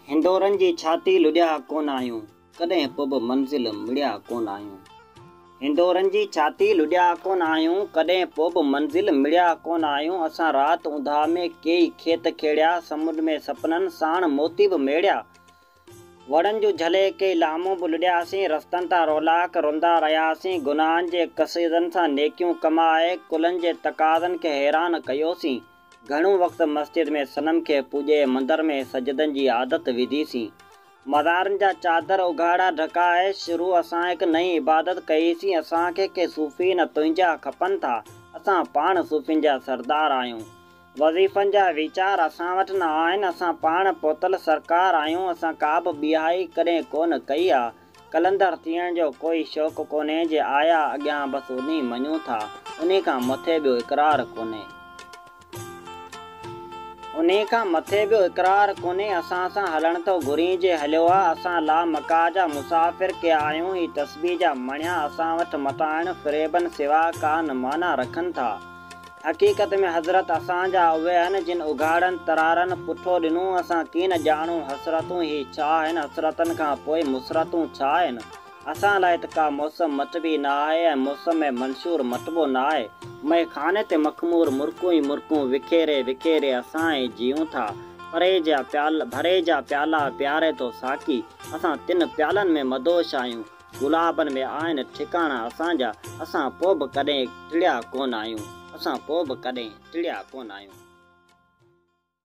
هنڊورن جي ڇاتي لڙيا ڪونه آهيون ڪڏهن پوء به منزل مڙيا ڪونه آهيون هنڊورن جي ڇاتي لڙيا ڪونه آهيون ڪڏهن پوء به منزل مڙيا ڪونه آهيون اسان رات اونداهه ۾ ڪيئي کيت کيڙيا سمنڊ ۾ سپنن ساڻ موتي به ميڙيا وڻن جون جهليڪي لامون به لڏياسين، رستن تان رولاڪ روندا رهياسين، گناهن جي قصيدن سان نيڪيون ڪمائي، ڪلن جي تقاضن کي حيران ڪيوسين، گهڻو وقت مسجد ۾ صنم کي پوڄي، مندر ۾ سجدن جي عادت وڌيسين، مزارن جا چادر اگهاڙا ڍڪائي، شروع اسان هڪ نئين عبادت ڪئيسين، اسان کي ڪي صوفي نه تنهنجا کپن ٿا، اسان پاڻ صوفين جا سردار آهيون، وظيفن جا ويچار اسان وٽ نه آهن، اسان پاڻ پوتل سرڪار آهيون، اسان ڪابه بيهائي ڪڏهن ڪونه ڪئي آ، قلندر ٿيڻ جو ڪوئي شوق ڪونهي، جي آيا اڳيان بس انهي مڃون ٿا، انهي کان مٿي ٻيو اقرار ڪونهي. انهي کان مٿي ٻيو اقرار ڪونهي، اسان سان هلڻ ٿو گهرين جي هليو آ، اسان لامقاء جا مسافر ڪي آهيون، هي تسبيح جا مڻيا اسان وٽ متاعن فريبن سوا ڪا نه معنيٰ رکن ٿا. حقيقت ۾ حضرت اسان جا اهي آهن جن اگهاڙن ترارن پٺو ڏنو اسان ڪين ڄاڻون حسرتون هي ڇا آهن حسرتن کان پوء مسرتون ڇا آهن اسان لاء ته ڪا موسم مٽبي نه آهي ۽ موسم منشور مٽبو نه آهي مئي خاني تي مخمور مرڪون ئي مرڪون وکيري وکيري اسان ئي جيئون ٿا پري جا پيالا ڀري جا پيالا پياري ٿو ساقي اسان تن پيالن ۾ مدهوش آهيون گلابن ۾ آهن ٺڪاڻا اسان جا، اسان پوء به ڪڏهن ٽڙيا ڪونه آهيون، اسان پوء به ڪڏهن ٽڙيا ڪونه آهيون.